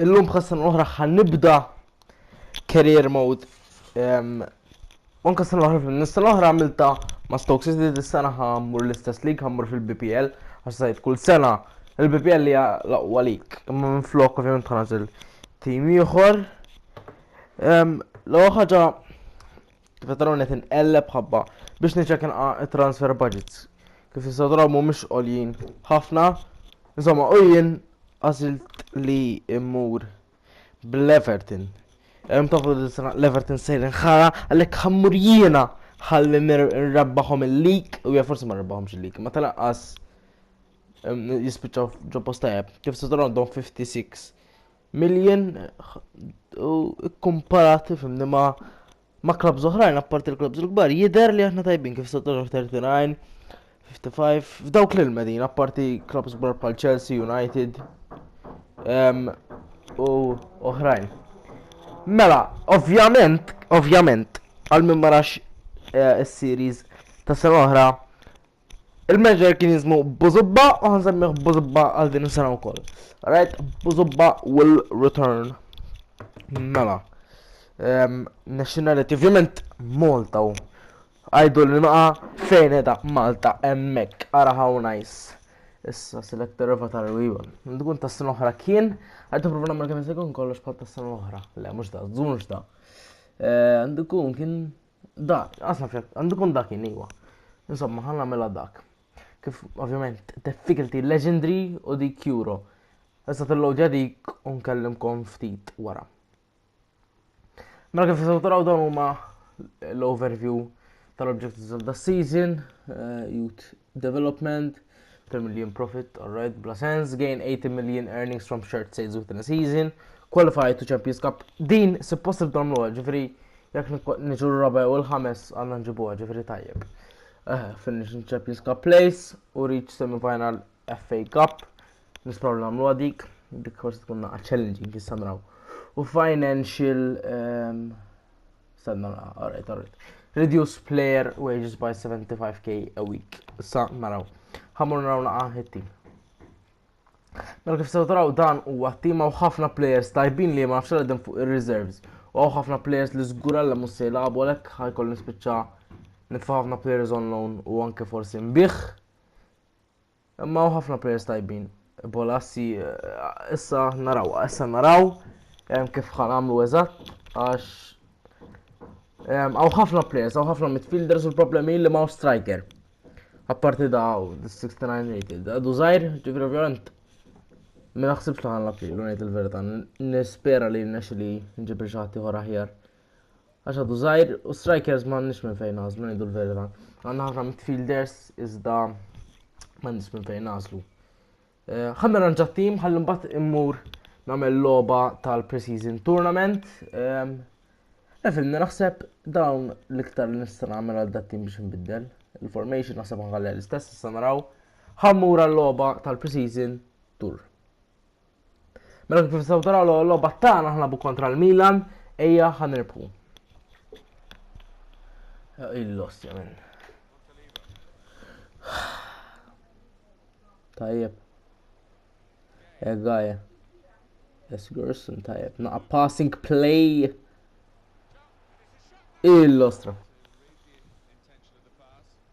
Illum bħal sena l-oħra ħan nibda career mode. Anka sena l-oħra fil sena l-oħra għamilta ma' Stoke City dis-sena ħammur l-istess lig ħammur fil-BPL għax sajt kull sena il-BPL li laqwa lik imma minn flok ovvjament ħanażel tim ieħor. L-ewwel ħaġa Kif taraw qed inqelleb ħabba biex niċċekka nqa' transfer budgets. Kif tistgħu taraw mhumiex għoljin ħafna. Insomma, u jien għażilt li immur bl-Everton. Hemm tafu l-Everton sejrin ħara għalhekk ħammur jiena ħalli nrabbaħom il-lik u hija forsi ma rbaħomx il-lik, ma tal-aqqas jispiċċaw ġo postajab. Kif tistgħu taraw għandhom 56 Million u kkumparati fimni ma' ma' klabs oħrajn apparti l-klabs il-kbar jidher li aħna tajbin kif sottoġoh 39, 55 f'dawk lil medin apparti klabs kbar bħal Chelsea, United um, u oħrajn. Mela, ovvjament, ovvjament, għal min marax eh, is-series ta' sena oħra Il-manager kien jismu Buzubba u ħansemmiħ Buzubba għal din is-sena wkoll. Right, Buzubba will return. Mela. Ehm, nationality, ovvjament Malta u għajdu li naqa fejn edha Malta emmek, ara how nice. Issa select avatar u iva. Tkun ta' sena oħra kien, għajdu provna ma' kien sekun kollox bħal ta' sena oħra. Le, mux da, zunx da. Għandu eh, kun kien Da, għasaf, għandu kun dak jiniwa. Insomma, ħanna mela dak. Kif, ovvjament, difficulty legendary u di kjuro. Issa tillow ġadik unkellimkom ftit wara. Mela kif jisaw taraw dawn huma l-overview tal-objectives of the season, eh, jut Development, 10 million profit, alright, bla sens, gain 80 million earnings from shirt sales within a season, qualified to Champions Cup. Din suppost nagħmluha, ġifieri jekk niġu r-raba' u l-ħames għandna nġibuha, ġifieri tajjeb. Eh, finish in Champions Cup place u reach semifinal FA Cup. Nispraw li nagħmluha dik, dik forsi tkun naqa' challenging jissamraw. U financial ehm, Stenna nara, alright, alright. Reduce player wages by 75k a week. Sa naraw. Ħamur naraw naqa it-team. Mela kif sew taraw dan huwa t-team hawn ħafna players tajbin li ma nafx għadhom fuq ir-reserves. U hawn ħafna players li żgur għalla mhux se jilagħbu għalhekk ħajkoll nispiċċa nitfa' ħafna players on loan u anke forsi nbih. Imma hawn ħafna players tajbin. Bolassi issa naraw, issa naraw kif ħan għamlu eżatt għax għaw ħafna players, għaw ħafna midfielders u l-problemi li ma' striker. Apparti da' 69 rated, għadu zaħir, ġifri ovvijament, ma naħsibx li ħanlab li l-unajt il-verita, nispera li n-nex li nġibri xaħti ħor aħjar, Għax għadu żgħir u strikers m'għandniex minn fejn nażlu ngħidu l-verità. Għandna ħafna midfielders iżda m'għandniex minn fejn nażlu. Eh, ħanna ranġa tim ħalli mbagħad immur nagħmel logħba tal-preseason tournament. Ehm, Efilni naħseb dawn l-iktar li nista' nagħmel għal dat tim biex nbiddel. Il-formation naħseb ħalli l-istess issa naraw ħammur għal logħba tal-preseason tour. Mela kif nistgħu taraw l-logħba tagħna aħna bu kontra l-Milan, ejja ħanirbħu. Il-lost jamin. Tajjeb. Egaja. Esgerson tajjeb. Naqa passing play. Il-lostra.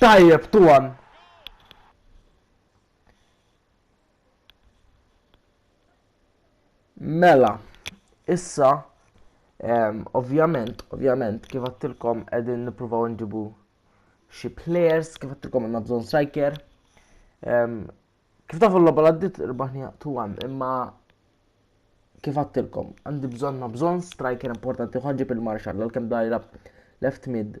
Tajjeb, tuwan. Mela, issa, um, ovvjament, ovvjament, kif għattilkom edin nipruvaw nġibu xie players, kif għattilkom għanna bżon striker. Um, kif tafu l-loba l-għaddit rbaħni tuwan, imma kif għattilkom, għandi bżon ma bżon striker importanti, ħanġib il-marxall, l-kem dajra left mid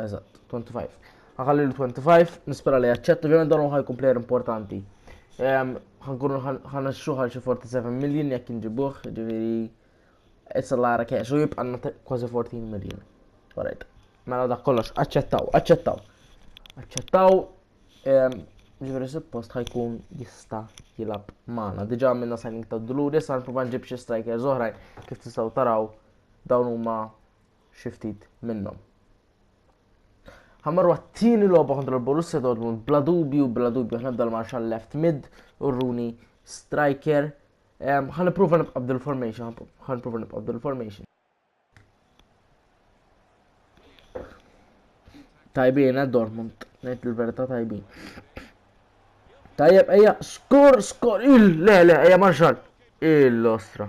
Eżatt, 25. Ħakalli l-25, nispera li jaċċetta, ovvjament dan ħaj player importanti. Ħankunu ħana xuħal xi 47 million jekk inġibuħ, ġiviri, it's a lot of cash, u jibqanna kważi 14 million. Alright, mela dak kollox, aċċettaw, aċċettaw. Aċċettaw, ġiviri suppost ħajkun jista jilab maħna. Diġa minna signing ta' d-dulur, jessa nprovan ġib xie striker zoħrajn, kif tistaw taraw dawn huma xi ftit minnhom. Ħammarru għat-tieni logħba kontra l-Borussia Dortmund bla dubju, bla dubju ħna bdal marxa left mid u Rooney striker. Ħan ipprova nibqa' bdil formation, ħan ipprova nibqa' bdil formation. Tajbin, eh, Dortmund, ngħid il-verità tajbin. Tajjeb, eja, skor, skor, il, le, le, eja, marxal. Il-ostra.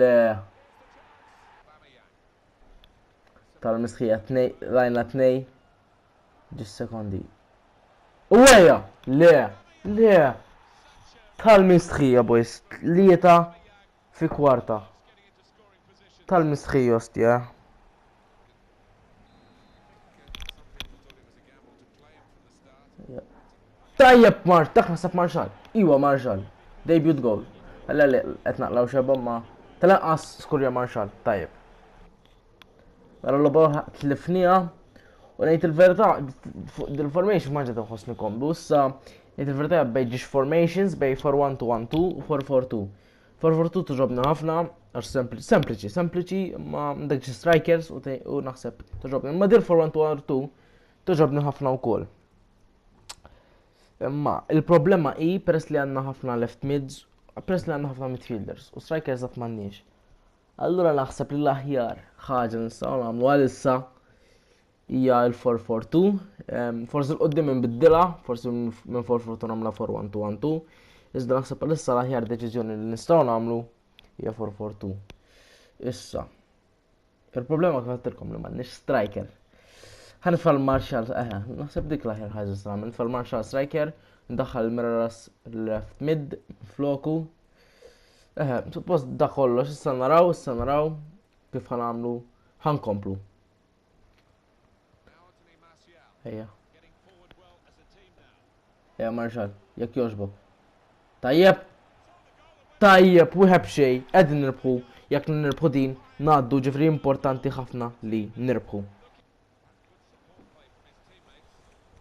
Le. Tal-mistħija tnej, rajna tnej. Ġis sekondi. U għeja! Le! Le! Tal-mistħija, boys. Tlieta fi kwarta. Tal-mistħija, ostja. Tajjeb Mart, dak nasab Marxal. Iwa Marxal. Debut goal. Għalla li qed naqlaw xebom ma. Tal-anqas skurja Marxal, tajjeb. Għalla mela, l-logħba tlifnija. U ngħid il-verità, dil-formation ma ġed nħossni komdu. Issa, ngħid il-verità bejn ġiex formations bej 4-1-2-1-2 u 4-4-2. Forfortu tuġobna ħafna, għax sempliċi, sempliċi, ma dak xi strikers u naħseb tuġobna. Ma dir for 1 to R2 tuġobna ħafna wkoll. Imma il-problema hi peress li għandna ħafna left mids, peress li għandna ħafna midfielders u strikers għat m'għandniex. Allura naħseb li l-aħjar ħaġa nistgħu nagħmlu għalissa Hija l-for for two. Forsi l-qoddim inbiddilha, forsi minn for for two nagħmla for one two one two. Iżda naħseb għalissa l-aħjar deċiżjoni li nistgħu nagħmlu hija for for two. Issa. Il-problema kif għattilkom li m'għandniex striker. Ħan fal Marshall, eh, naħseb dik l-aħjar ħaġa s-għamil, fal Marshall striker, ndaħħal Miraras left mid, floku, Eħe, suppost da kollox, issa naraw, issa naraw kif ħanamlu, ħankomplu. Ejja. Ejja Marshall, jekk jogħġbok. Tajjeb! Tajjeb, wieħed b'xej, qegħdin nirbħu, jekk nirbħu din, ngħaddu ġifri importanti ħafna li nirbħu.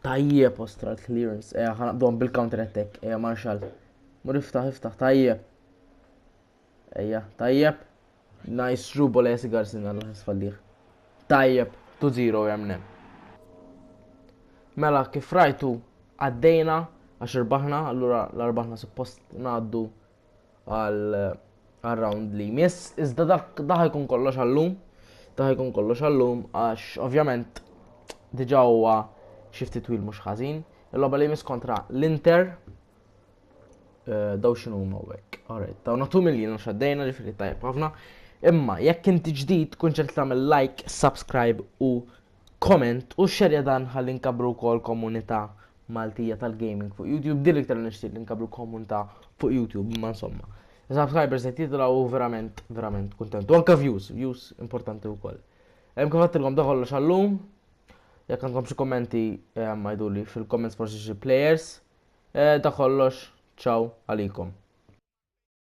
Tajjeb ostra l-clearance, eja ħanaqdom bil-counter attack, eja Marshall. Mur iftaħ, iftaħ, tajjeb. Ejja, tajjeb. Nice true bola jesi Garcin għal ħes falliħ. Tajjeb, 2-0 jemne. Mela, kif rajtu, għaddejna għax irbaħna, allura l-arbaħna suppost naddu għal round li jmiss. Iżda dak daħ jkun kollox għallum, daħ jkun kollox għallum għax ovvjament diġa huwa xifti twil mhux ħażin. Il-logħba li jmiss kontra l-Inter, Eh, daw xinu huma hekk. Alright, daw natu miljin għax għaddejna ġifieri tajjeb ħafna. Imma jekk inti ġdid kun ċert tagħmel like, subscribe u comment u xerja dan ħalli nkabru wkoll komunità Maltija tal-gaming fuq YouTube. Dil iktar nixtieq li nkabru komunità fuq YouTube, imma insomma. Subscribers qed jitilgħu verament verament kuntent. U anke views, views importanti wkoll. Hemm kif għattilkom da kollox għallum, Jekk għandkom xi kommenti eh, ma jduli fil-comments forsi xi players. Eh, da kollox, ciao għalikom.